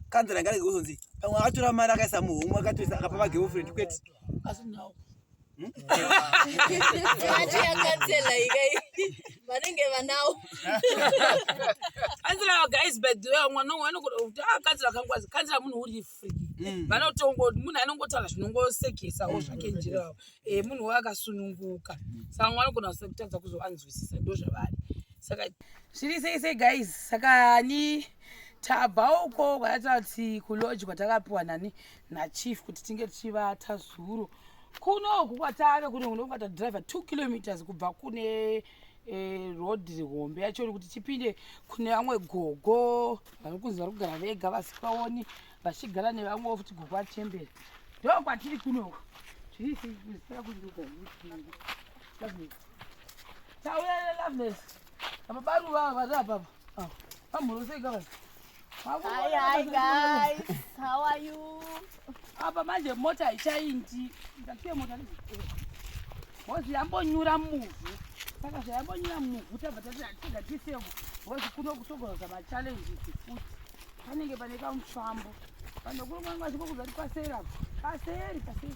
kanzana ngari kuzonzi pamwe akatora mari akaisa muhomwe akatoisa akapa magirlfriend kwete asi now hmm? vanenge vanawo kanzira guys by the way mwana umwe anokuda kuti a ah, kanzira kangwazi kanzira munhu uri free hmm. vanotongo munhu anongotaura zvinongosekesa wo zvake hmm. njirawo e eh, munhu waye akasununguka saka mwana anogona kusa kutadza kuzoanzwisisa ndo zvavari saka zviri sei sei guys saka ni tabva uko kwayataura kuti kuloji kwatakapiwa nani nachief kuti tinge tichivata zuro kunoku kwatave kune kuno kwatatadriver two kilometers kubva kune eh, road hombe yacho kuti tipinde kune vamwe gogo vari kunzi vari kugara vega vasikaoni vachigara nevamwewo futi gogo achembera ndo kwatiri kunoku tauya lovnes apabaruva vari apapa Ah, amhoro sei ka vanhu? Hi, hi guys. How are you? Apa manje mota haichaindi. Ndasiye mota ne. Hozi yambonyura muvhu. Saka zvayambonyura muvhu tabva tati tega tisemo. Hozi kuno kutogoza ma challenges futi. Panenge pane kamufambo. Vanhu kuno kwanga zviko kuzati paseri apo. Paseri, paseri.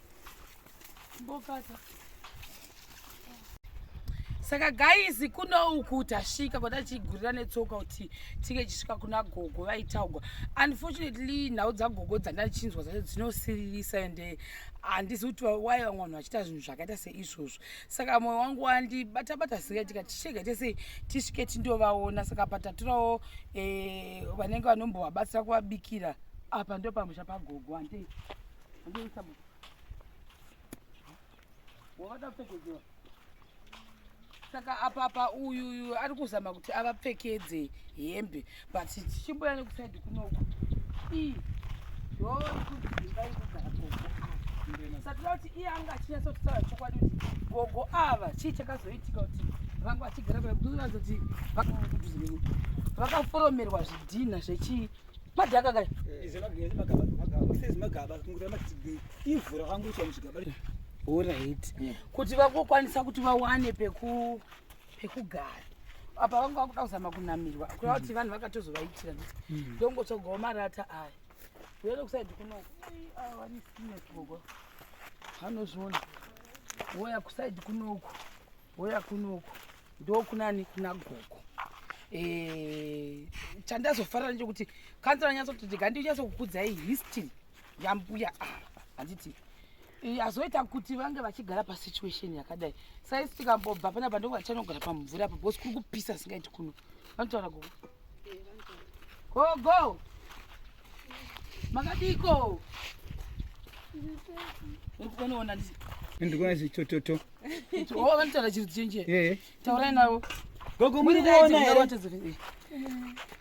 Mbokata. saka gaizi kuno uku tasvika kwata tichigurira netsoka kuti tinge tichisvika kuna gogo vaitaugwa unfortunately nhau dzagogo dzandachinzwa dzacho dzinosiririsa ende handizi kuti wai vamwe vanhu vachiita zvinhu zvakaita seizvozvo saka mwoyo wangu wandibata bata zingaitika tichega tese tisvike tindovaona saka pataturawo eh, vanenge vanombovabatsira kuvabikira apa ndopamusha pagogo handei saka apapa uyu uyu ari kuzama kuti avapfekedze hembe but tichimboya nekusaidi kunoku ii yoo ikudzimba ikugara koko satira kuti iye anga achinyatsokutaura chokwadi kuti gogo ava chii chakazoitika kuti vanga vachigara vaazoti vakaforomerwa zvidhinha zvechii Madhaka kai. Izi magaba magaba. Izi magaba kungura matsigei. Ivhura kwangu icho muzvigaba. Alright. Hmm. Kuti vakokwanisa kuti vawane peku pekugara. Apa vangu vakuda kuzama kunamirwa. Kuda kuti hmm. vanhu vakatozovaitira. Hmm. Ndongotsvagawo marata aya. Uyele kusaidi kuno. Ah, wani sine gogo. Hanozviona. Woya kusaidi kunoku. Hoya kunoko ndokunani kuna gogo eh, chandazofarira nechekuti kanzi ranyatsoti ndikandinyatsokukudzai history yambuya ah, handiti azoita kuti vange vachigara pasituation yakadai saisi tikambobva pana pandoko vachanogara pamumvura apo bcause kuri kupisa singaiti kuno vanotaura gogo gogo makadiko ndikuona ndikuona zvitototo Oh, vanotaura chirudzi chenjera eh. taurai navo gogo muri kuona here eh.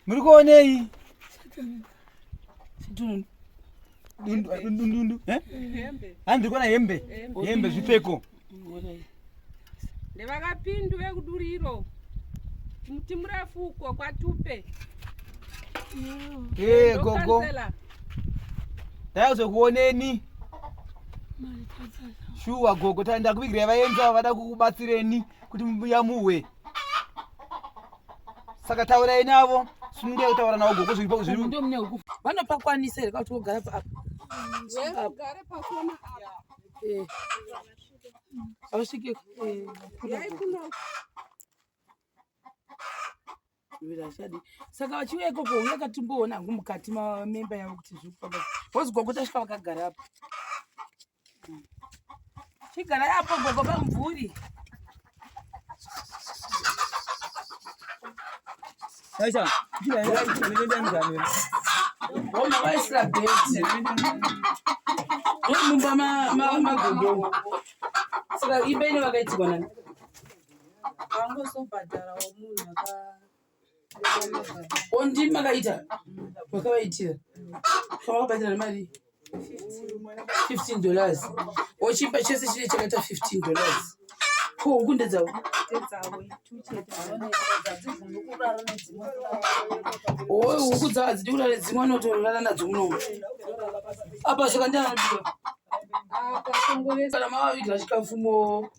muri kuonei dundundu eh? handi ndiri kuona hembe hembe zvipfeko ndevakapindu vekuduriro muti murefu uko kwatupe gogo ndaizokuoneni shuwa gogo ta ndakuvigirai vaenzi avo vada kukubatsireni kuti muyamuhwe saka taurai navo sununge kutaura navo gogo zviripavanopakwanisaere kauti vogara paapa ausvike eh, eh, zviviri hazvichadi saka vachiuya ikoko uye katimboona hangu mukati mamemba yavo kuti zviri kufamba bhozi gogo tasvika vakagara apo chigara yapo gogo pamvuri Aisha, kila yeye anaenda ndani. Wao maisha beti. Wao mumba ma ma magogo. Sasa ibeni wakaitikwa nani? vangozobhadharawo munhu ondii makaita makavaitira kamakabatirana mari 15 dollars ochipa chese chine chakaita 15 dollars ko huku ndedzavo oe huku dzavo hadzidi kurara nedzimwe anotorara nadzo munomu apa saka ndianodiwa kana mavavigira chikafu moo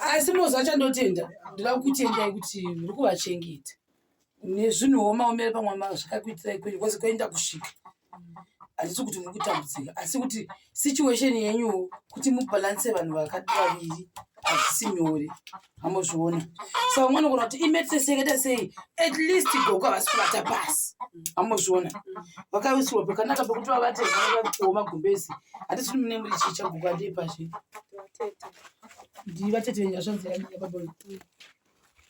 asi mozi acho andotenda ndoda kukutendai kuti muri kuvachengeta nezvinhu womaomera pamwe mazvakakuitirai kwenyu kwose kwoenda kusvika handisi kuti muri kutambudzika asi kuti situation yenyuwo kuti mubhalanse vanhu vakati vaviri hazvisi nyore amozviona saka umwe anogona kuti imeteseketa sei at least gogo havasi kuvata pasi amozviona vakawisirwa pakanaka pekuti vavate vakuwo magumbezi hatisi kuti mune muri chii chagogo andei pazve ndivatete venyu vasvanzira nyaya baboyo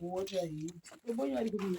wota hii baboyo ari kuii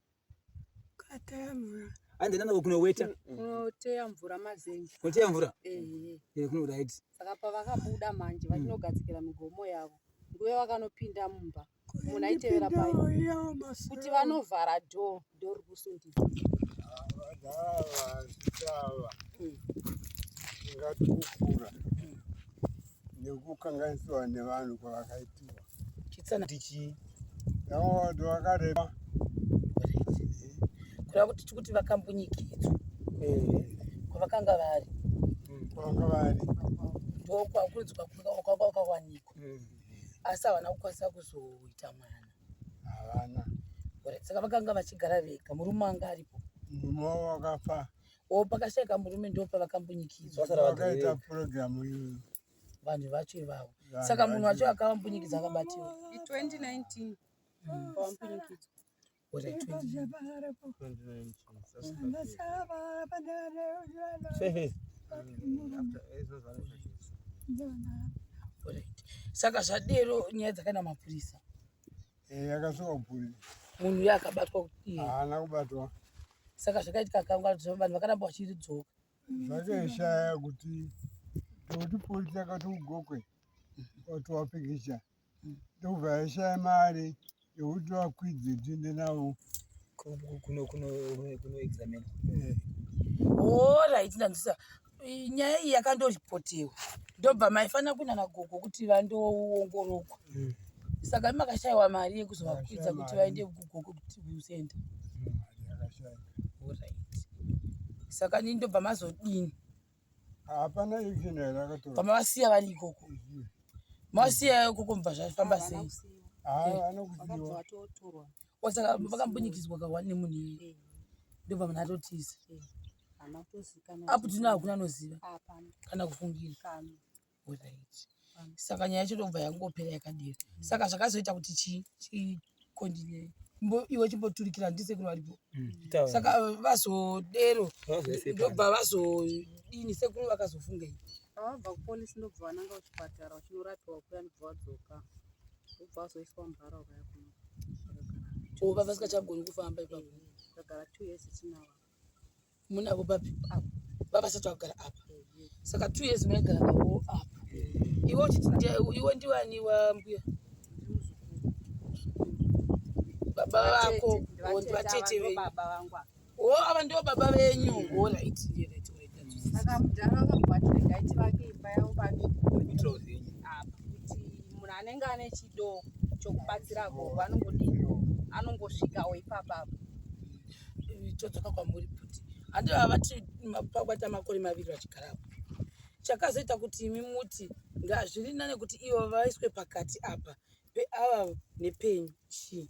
andina navo kunoweta kunoteya mvura mazenji kunoteya mvura ehe kuno right saka pavakabuda manje vachinogadzikira migomo yavo nguve vakanopinda mumba munhu aitevera pai kuti vanovhara do do rikusundisa ingatikukura nekukanganiswa nevanhu kwavakaitiwa Chitsana tichi. Yawa ndo akareba. Kura kuti tikuti vakambunyikidzwa. Eh. Kwavakanga vari. Hmm, kwavakanga vari. Ndo kwakurudzwa kwakawanikwa. Hmm. Asi havana kukwanisa kuzoita mwana. Havana. Saka vakanga vachigara vega murume anga aripo. Murume wavo wakafa. O pakashaika murume ndo pavakambunyikidzwa. Vakaita purogiramu iyoyo. vanhu vacho ivavo saka munhu wacho akavambunyikidza akabatiwa saka zvadero nyaya dzakaenda mapurisa eh, akasuka kupuri munhu uyo akabatwa haana kubatwa saka zvakaitika kangwa vanhu vakaramba vachiridzoka zvakaishaya kuti ndokuti polisi yakati ugokwe wati wapikicha ndokubva yaishaya mari yekuti vakwidze tiende navo kunoexamina orit ndanzwisa nyaya iyi yakandopotewa ndobva maifanira kunana gogo kuti vandoongorogwa mm. saka makashaiwa mari yekuzovakwidza kuti vaende kugogo kuti kusenda saka nini ndobva mazodini hapana action here akatora kama vasiya vari ikoko masiya ikoko mubva zvafamba sei saka vakambunyikidzwa kahwani nemunhu iye ndobva munhu atotiza apo tino hakuna anoziva kana kufungira saka nyaya yacho ndobva yangopera yakadero saka zvakazoita kuti chikontinye iwe chimboturikira ndisekuru varipo mm. saka eh, vazodero ndobva vazodini sekuru vakazofungei vabva kupolisi ndobva vananga kuchipatara vachinorapiwa kuya ndobva vadzoka ndobva vazoiswa mubhara ukaya kuno vava sikachagoni kufamba ipapo kagara two years itinava munavo babi avo vavasati vakugara apa saka two years maigara navo apa iwe uchiti iwe ndiwani wambuya baba vako ndivatete venyu o ava ndivo baba venyu o right saka mudhara vakubatiregaiti vake imba yavo babi apa kuti munhu anenge ane chido chokubatsira gogo anongodii anongosvikawo ipapapo todzoka kwamuri bhuti handi vava vati pakubaita makore maviri vachigarapo chakazoita kuti imi muti ngazviri nane kuti ivo vaiswe pakati apa peava nepenyu chii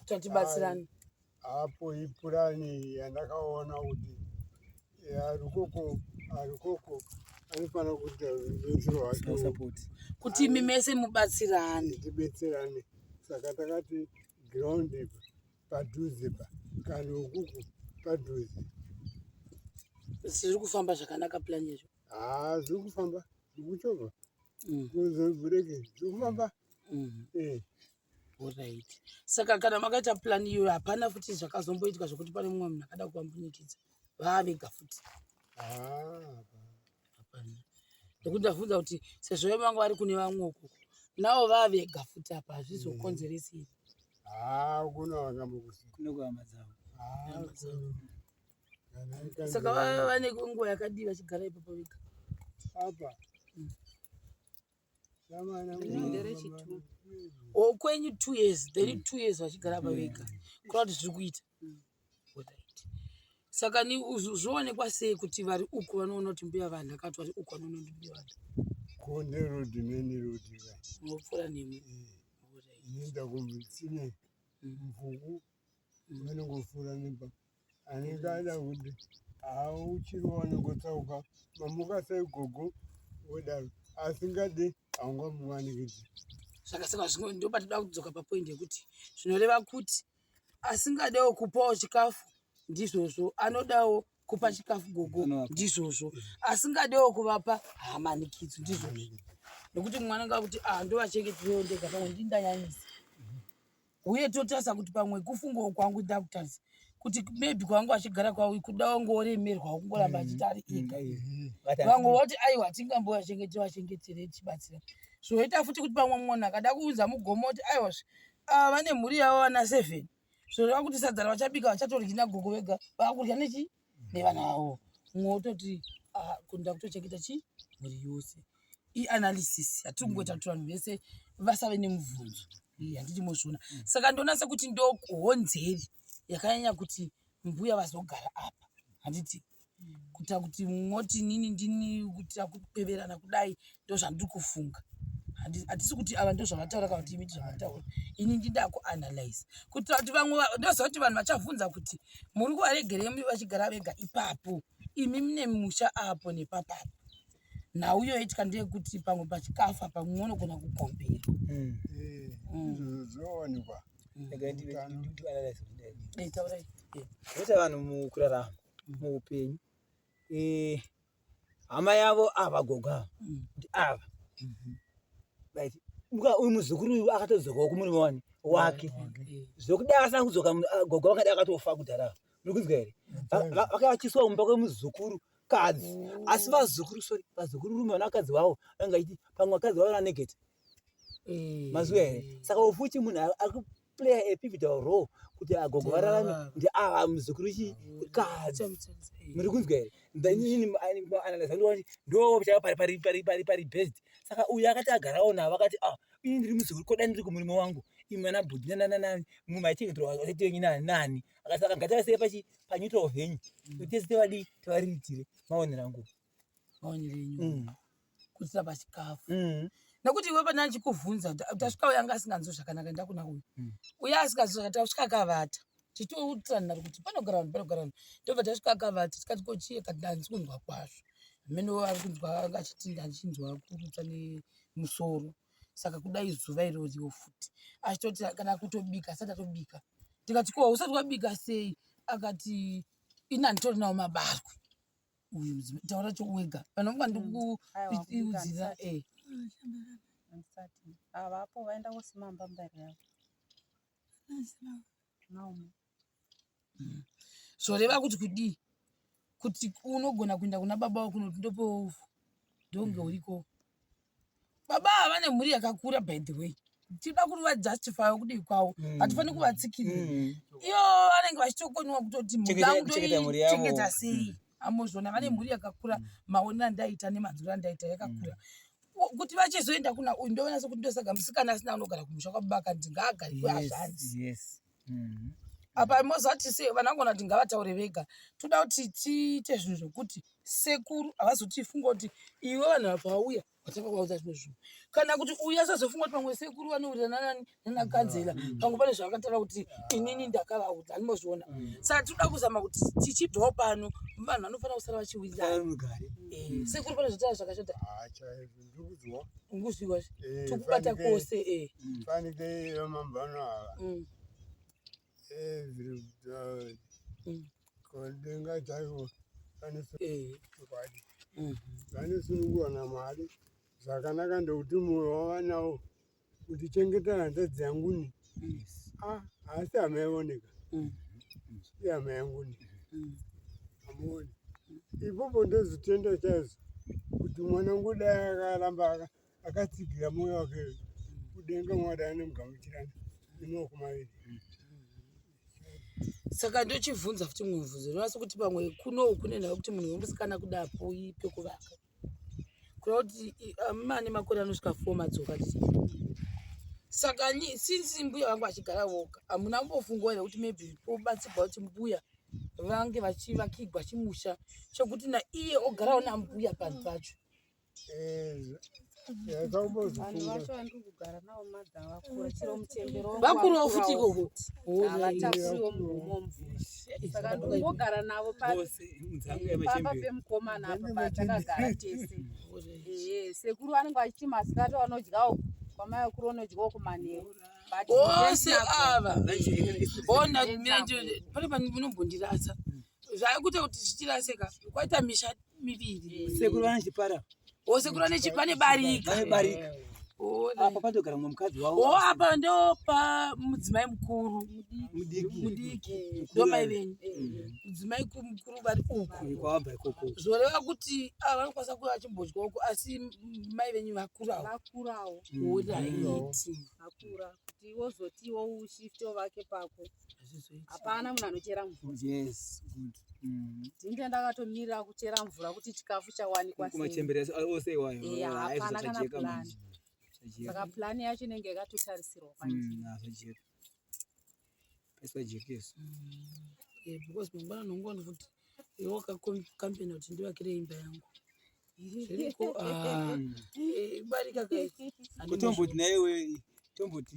tatibatsirani apo ipurani yandakaona kuti arikoko arikoko anofanira kuita rubetsero hwake kuti imi mese mubatsirane tibetserane saka takati ground padhuze pa kana ukuku padhuze zviri kufamba zvakanaka plan izvo haa ah, zviri kufamba zvikuchova mm. kuzobhureki zviri kufamba mm. eh. orit saka kana makaita plan iyo hapana futi zvakazomboitwa zvekuti pane mumwe munhu akada kuvambunyikidza vaavega futi ah, hapana nekuti ndavhunza kuti sezvo vemanga vari kune vamwe uku navo vavega futi apa hazvizokonzeresi mm. ah, ah, saka vane nguva yakadii vachigara ipapo vega apa mm. okwenyu oh, two years then mm. two years vachigara pa vega kura kuti zviri kuita mm. saka ni zvoonekwa sei kuti vari uku vanoona kuti mbuya vanhu akati vari uku vanoona kuti mbuya vanhu konde rodi meni rodi mopfuura nemi eh, inoenda kumitsine mvuku mm. vanongofura nemba anenge ada kuti hauchiri wanongotsauka mamuka sei gogo wodaro asingade haungamuwanikidzi saka saka zvino ndoba toda kudzoka papoindi yekuti zvinoreva kuti asingadewo kupawo chikafu ndizvozvo anodawo kupa chikafu gogo ndizvozvo asingadewo kuvapa hamanikidzo ndizvozvo nekuti mwana ngakuti ah, ndovachengeti veondega pamwe ndindanyanyisa huye totarisa kuti pamwe kufungawo kwangu ndakutarisa kuti maybe kwanga achigara kwavo kuda wange woremerwawo kungoramba mm. achiti ari ega mm. vamwe voti aiwa tingamboya chengete vachengetere tichibatsira zvoita futi kuti pamwe munhu akada kuunza mugomo kuti aiwa zve ava vane mhuri yavo vana seven zvoreva kuti sadza ravachabika vachatoryi nagogo vega vakudya nechii nevana vavo umwe wototi ah, kuda kutochengeta chi mhuri yose ianalysis hatiri kungoita kuti vanhu vese vasave nemubvunzo Iyi handidi mozviona saka ndoona sekuti ndohonzeri yakanyanya kuti mbuya vazogara apa handiti kuita kuti moti nini ndini kuitira kupeverana kudai ndozvandiri kufunga hatisi kuti ava ndozvavataura kana kuti imi ndizvavataura ini ndida kuanalyze kuitira kuti vamwe ndoziva kuti vanhu vachavhunza kuti muri kuvaregerei vachigara vega ipapo imi mune musha apo nepapapo nhau iyo yoitika ndeyekuti pamwe pachikafa pamwe unogona kukombera hmm. hmm. zvoonekwa zvinoita hmm. vanhu mukurarama muupenyu eh, hama yavo ava gogo ava mm. ndi ava mhm. right uyu muzukuru uyu akatodzokawo kumurume wani wake zvokuda asina kudzoka ah, gogo vakada akatofa kudhara muri kunzwa here vakavachiswa kumba kwemuzukuru kadzi oh. asi vazukuru sorry vazukuru rume vanakadzi vavo vanga iti pamwe vakadzi vavo vananegeti eh. mazuva here saka ufuti munhu akuplaya a pivotal role kuti agogo vararame ndi ava ah, muzukuru chi kadzi muri kunzwa here ndaianalyzandiwati ndo chaka pari pari pari pari pari best saka uyu akati agarawo navo akati a ah, ini ndiri muzukuru koda ndiri kumurume wangu imi vana bhudhi nanananani mumwe maichengeterwa asati wenyu nanani akasaka ngatavasei pachi panyuto of henyu mm. tese tevadii tevariritire maonera nguva mm. kuisa pachikafu mm. nekuti iwe pane achikuvhunza tasvika uya anga asinganzwi zvakanaka enda kuna uyu mm. uya asinganzwi zvakanaka tasvika akavata tichiutirana kuti panogara vanhu panogara vanhu tobva tasvika akavata tikati kochie kati ndanzi kunzwa kwazvo amene ari kunzwa anga achiti ndachinzwa kurutsa nemusoro saka kudai zuva iroriwo futi achitoti kana kutobika asati atobika tikati ko usati wabika sei akati ini anditorinawo mabarwe uyu taura chowega kana unga ndikuudzira mm. eh. avapo vaenda kosima mbambari yavo mm. zvoreva kuti kudii kuti unogona kuenda kuna baba wako noti ndopewo uvhu ndonge mm. urikoo baba ava vane mhuri yakakura by the way tinoda kuti vajustify kudii kwavo mm. hatifaniri kuvatsikirira mm. iyo vanenge vachitokoniwa kutoti mhuri yangu toichengeta sei mm. amozviona vane mhuri yakakura maonero andaita nemadziro andaita yakakura kuti vachizoenda kuna uyu ndoona sekuti ndosaga musikana asina anogara kumusha kwababa kanzi ngaagari kweazvanzi mm-hmm. apa mozoti se vanangona kuti ngavataure vega toda kuti tiite zvinhu zvokuti sekuru havazoti funga kuti iwe vanhu vapauya vatanga kuvaudza zvimwe zvinhu kana kuti uya sazofunga kuti pamwe sekuru vanowirirana nani nanakanzela mm. pamwe pane zvavakataura kuti inini ndakavaudza anomozviona mm. saka tinoda kuzama kuti tichibvawo pano vanhu vanofanira kusara vachiwirirana eh, sekuru pane zvataura zvakashata ndikudzwa unguzviwa eh, tokubata kose eh. mm. fanike yamambano ava mm. eh, zviri mm. kodenga chaivo vanosunungurwa namwari zvakanaka ndokuti mwoyo wavanawo kuti chengeta hanzvadzi yangu ni ah, haasi hama yaoneka mm. ihama yangu ni mm. amuoni ipopo ndozotenda chaizvo kuti mwana wangu dai akaramba akatsigira mwoyo wake kudenga mwari anemugamuchirana nemaoko maviri mm. saka ndochibvunza futi mubvunzo ndinonasa kuti pamwe kunou kune nhau kuti munhu wemusikana kuda poi pekuvaka Kureva kuti amai ane makore anosvika four madzoka saka since mbuya vangu vachigara voga hamuna kumbofungawo here kuti maybe pobatsirwa kuti mbuya vange vachivakigwa chimusha chokuti naiye ogarawo nambuya panhu pacho eh, vakurawo futi ikoko saka ndikungogara navo pamba pemukomana apa patakagara tese sekuru vanenge vachiti masikati vanodyawo kwamai vakuru vanodyawo kumanheru vose ava ona pane panombondirasa zvaikuita kuti zvichirasika kwaita misha miviri sekuru vane chipara o sekuru vane chipane barika vane barika apa patogara mumwe mukadzi wavo o apa ndopa mudzimai mukuru mudiki ndomai venyu mudzimai mukuru vari uku kwavabva ikoko zvoreva kuti ava vanokwanisa kuva vachimbodya uko asi mai venyu vakurawo vakurawo odaiti vakura kuti wozotiwo ushifte ovake pako hapana munhu anochera mvura yes good mm. ndinge ndakatomirira kuchera mvura kuti chikafu chawanikwa kumachembere ose iwayo eh, ah, hapana kana plan saka plan yacho inenge yakatotarisirwa kwandizvajeka mm, pasajekeso mm. eh, because mangwana nongoona kuti iwe wakakompena kuti ndivakire imba yangu zviriko ah, eh, barika kutomboti naiwe tomboti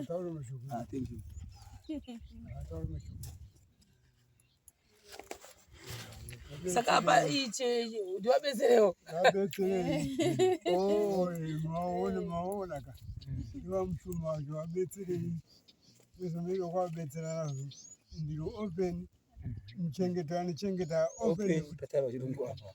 Ataure mashoko. Ah, thank you. Ataure mashoko. Saka hapa iche ndiwabetserewo. Abetserewo. Oh, maona maona ka. Ndiwa mshuma wacho abetserewo. Pesa mega kwa betsera nazvo. Ndiro open. Mchengeta anochengeta open. Open. Tataro chirungu apa.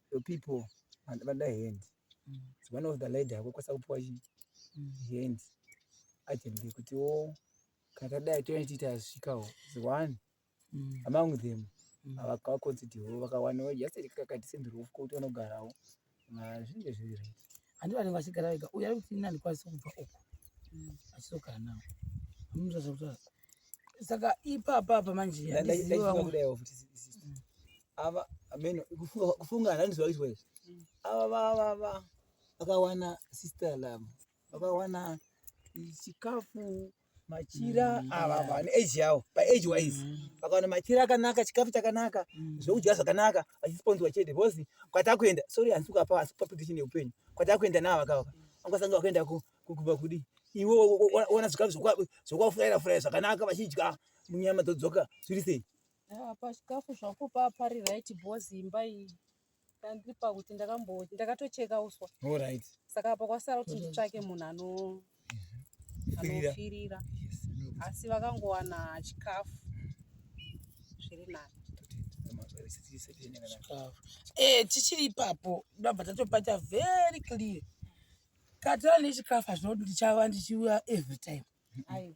the people and vada hand it's one of the lady ako kwasa kupiwa hand agent yekuti wo kana tadai toenda tichiita azvisvikawo is one among them avakakonzitiwo vakawanawo just kakadisendiriwo kuti vanogarawo zvinenge zviri right handi vanenge vachigara vega uye ari kuti nani kwasi kubva uko achizogara nawo amunotaza kutaza saka ipapa apa manje ava ameno kufunga handiziva kuitwa izvi mm. ava vavava vakawana sister lam vakawana chikafu machira mm, ava vane age yavo paage wise mm. vakawana machira akanaka chikafu chakanaka zvekudya zvakanaka vachisponzwa chete because kwatakuenda sorry handisi kukapa handisi kupa prediction yeupenyu kwatakuenda navo vakavaka vangasanga vakaenda kukuba kudi iwe ona zvikafu zvokwafuraira furaira zvakanaka vachidya munyama dzodzoka zviri sei ah, pachikafu zvakupa pari right bos imba iyi ndandiri pakuti ndakambo ndakatocheka uswa orit saka apa kwasara kuti nditsvake munhu ano mhm. anofirira asi vakangowana chikafu zviri nani eh, tichiri ipapo ndabva tatopata very clear Katira nechikafu hazvina kuti ndichava ndichiuya every time.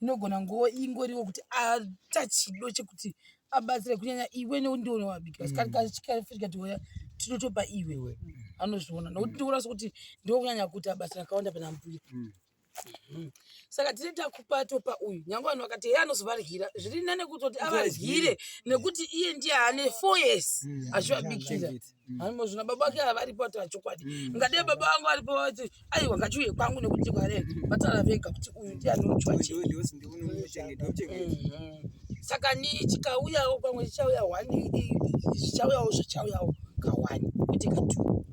Inogona nguva ingoriwo kuti aita chido chekuti abatsire kunyanya iwe nekuti ndiwe unowabikira. Saka kachikafu chikati uya tinotopa iwe. Anozviona nokuti ndikuona sokuti ndiwe kunyanya kuti abasa rakawanda pana mbuya. Saka tine takupa topa uyu nyangwe vanhu vakati heye anozovaryira zviri nane kutoti avaryire nekuti iye ndiye ane four years achivabikira. Haimo zvina baba vake havaripo ati vachokwadi. Mm. Ngadei baba vangu varipo vati aiwa ngachiuye kwangu nekuti kware vatara vega kuti uyu ndiye anochwa chii. Mm-hmm. Saka ni chikauyawo pamwe chichauya one chichauyawo zvichauyawo kawani kwete katu.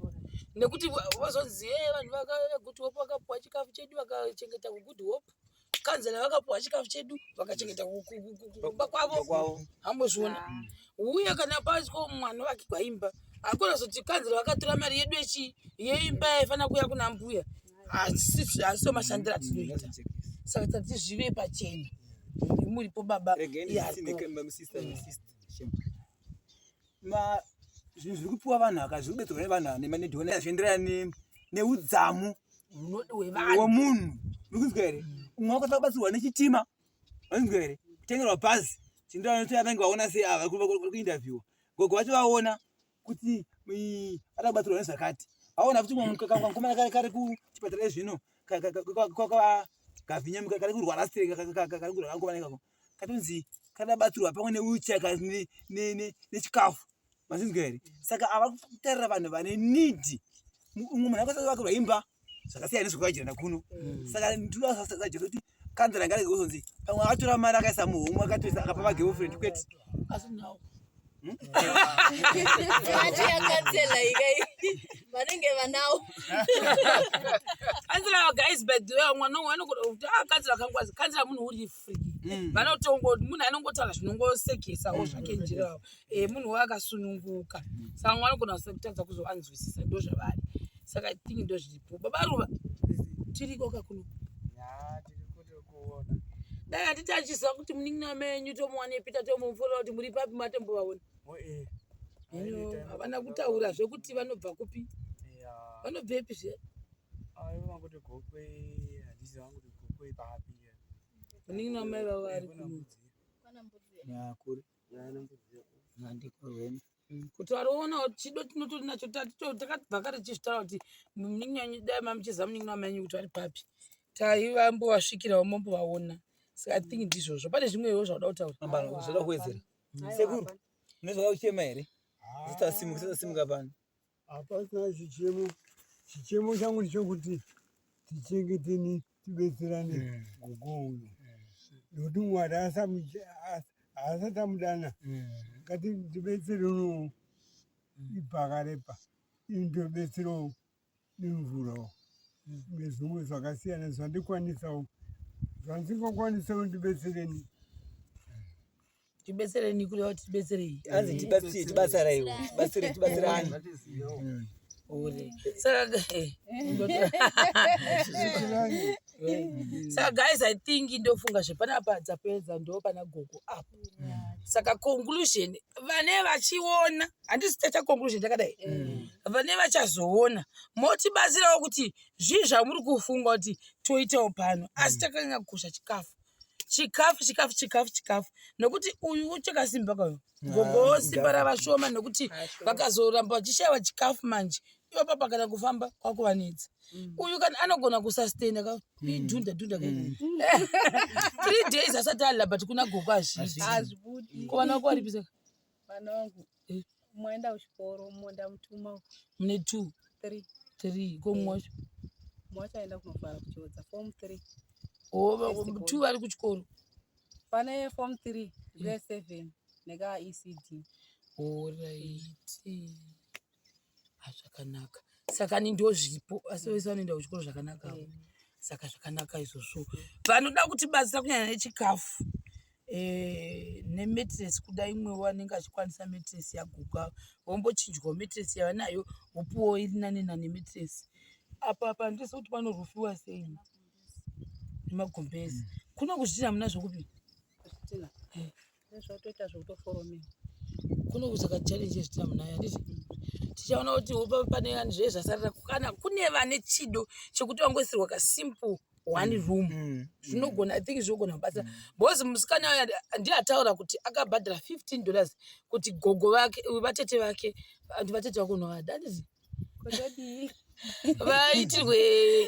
Nekuti vazonzi hey eh, vanhu vakauya kuti hope vakapuwa chikafu chedu vakachengeta kugood hope. kanzela vakapuwa chikafu chedu vakachengeta kumba kwavo hambozviona uye kana paiswa mwana wake kwaimba hakuna zoti kanzela vakatora mari yedu yechi yeimba yaifanira kuya kuna mbuya hasiso mashandiro atinoita saka tati zvive pachena muripo baba zvinhu zviri kupiwa vanhu aka zviri kubetsera kune vanhu ane mane ndiona zvienderana neudzamu wemunhu uri kunzwa here umwe wakatanga kubatsirwa nechitima vanonzwa here kutengerwa bhazi zvienderana nekuti vanenge vaona sei ava vari kuindavhiwa gogo vacho vaona kuti vatanga kubatsirwa nezvakati vaona kuti mkomana kari kari kuchipatara ezvino kwakagavinya kari kurwara sireka kari kurwara mkomana ikako katonzi kadabatsirwa pamwe newheelchair nechikafu mazinzwa here saka ava kutarira vanhu vane need umwe munhu akasati vakirwa imba zvakasiyana nezvekuvajirana kuno mm. saka ndinosasajesu kuti kanzira ngarege kuzonzi pamwe akatora mari akaisa muhomwe akatoisa akapa magirlfriend kwete Hmm? Mati ya kansela ikai vanenge vanawo kansela wa guys by the way mwana wangu anokuda kuti ah kansela kangwazi kansela munhu uri free hmm. vanotongo munhu anongotaura zvinongosekesa wo zvake hmm. njira yawo eh munhu waye akasununguka saka mwana anogona kutadza kuzovanzwisisa ndo zvavari saka i think ndo zviripo baba ruva tiriko kakuno dai handiti achiziva kuti munin'ina wamenyu tomuwanepi tatomuforera kuti muri papi matombovaona hino havana kutaura zvekuti vanobva kupi vanobva epi zve munin'ina wamai vavo ari kuri Mm, kuti variona kuti chido tinotori nacho takabva kare tichizvitaura kuti munin'ina wenyu dai mamuchiziva munin'ina wamenyu kuti vari papi taivambovasvikirawo mombovaona saka i think ndizvozvo pane zvimwewo zvauda kutaura kuwedzera mm. sekuru nezvauda kuchema here zitasimuka zitasimuka pano Hapasina chichemo, chichemo changu ndichokuti tichengeteni, tibetserane mm. gogo uyu nokuti mm. Mwari haasati amudana mm. ngati tibetsere uno ibhakarepa ini ndobetserawo nemvurawo nezvimwe zvakasiyana zvandikwanisawo zvandisingakwanisawo ndibetsereni tibetsereni kuri vati tibetserei anzi tibatsire tibatsiraiwo tibatsire tibatsirani saka guys i think ndofunga zvepanapa dzapedza ndo pana gogo apo saka conclusion vane vachiona handisi taita conclusion takadai mm. vane vachazoona motibatsirawo kuti zvii zvamuri kufunga kuti toitawo pano asi mm. takanyanya kukosha chikafu chikafu chikafu chikafu chikafu nokuti uyu uchakasimba kwayo gogo simba rava shoma nokuti vakazoramba vachishaiwa chikafu manje ivo papa kana kufamba kwakuvanetsa uyu kana anogona kusustaina ka idhunda dhunda ka three days asati alila but kuna gogo hazviiti hazvibudi kuvana wako waripisa Mwana wangu eh. umwe aenda kuchikoro umwe ndamutuma mune two three three ko mumwe wacho eh. mumwe wacho aenda kunofara kuchiodza form three oh, two vari kuchikoro pane form three grade eh. seven nekaecd orit Ah, zvakanaka saka ni ndozvipo asi vese vanoenda kuchikoro zvakanaka avo. saka zvakanaka izvozvo vanoda kuti batsira kunyanya nechikafu eh, nemetres kuda imwe wanenge achikwanisa metres yaguka vombochinjwawo metres yavanayo vopuwawo iri nane nane metres apa apa handisi kuti panorufiwa sei nemagumbezi kuno kuzvitina muna zvokupi Nezvautoita zvekutoforomewa kune kusaka challenge zvichita munaya ndizvo tichaona kuti upa pane vanhu zve zvasarira kana kune vane chido chekuti vangoisirwa ka simple one room Mm. zvinogona i think zvinogona kubatsira because musikana uya ndiye ataura kuti akabhadhara 15 dollars kuti gogo vake vatete vake and vatete vako unovada handizvo Kodadii? vaitirwe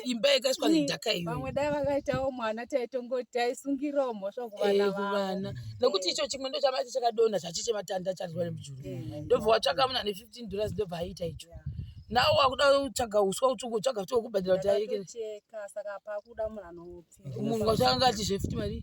imba yakaiswa nedhaka iyo vamwe dai vakaitawo mwana taitongoti taisungirawo mhosva kuvana Eh, vavo kuvana nokuti icho chimwe ndo chamati chakadonha chachiche matanda charwa nemujuru Mm. ndobva watsvaka muna ne 15 dollars ndobva aita icho nawo wakuda kutsvaga uswa utsvuku tsvaga futi wekubhadhira kuti arekere ndakatocheka saka pakuda munhu anopfira munhu watsvaka ngati zvefuti mari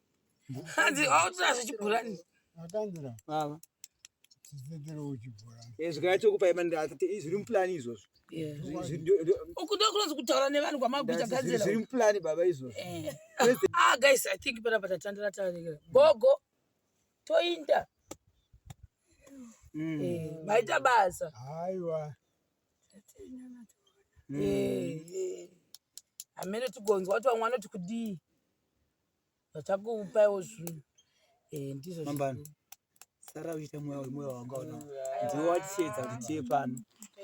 hanzi autora zvechibhurani akanzira baba zvigaya chokupai mandiati zviri mupulani izvozvo ukuda kunonzi kutaura nevanhu kwamaguta gadzira zviri mupulani baba izvozvo eh. ah guys i think panapa tatandira tarekera gogo toinda hmm. eh, maita basa aiwa hameno hmm. eh, tigonzwa kuti vamwe vanoti kudii vachakupaiwo zvinhu eh, ndizvo mambano sara uchiita mweya wemoyo wanga una ndiwo watichiedza kuti tiye pano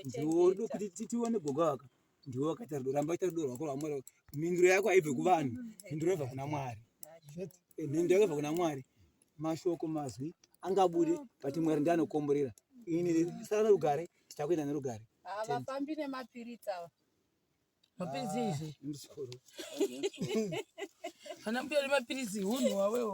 ndiwo kuti tione gogo waka ndiwo wakaita rudo ramba ita rudo rwako rwamwari mhinduro yako haibve kuvanhu mhinduro yobva kuna mwari eh, mhinduro yako ibva kuna mwari mashoko mazwi angabude but mwari ndi anokomborera ini sara nerugare tichakuenda nerugare havafambi nemapiritsi ava Mapiritsi ah, izvi. Muzukuru. Kana mbuya uri mapiritsi hunhu wawewo.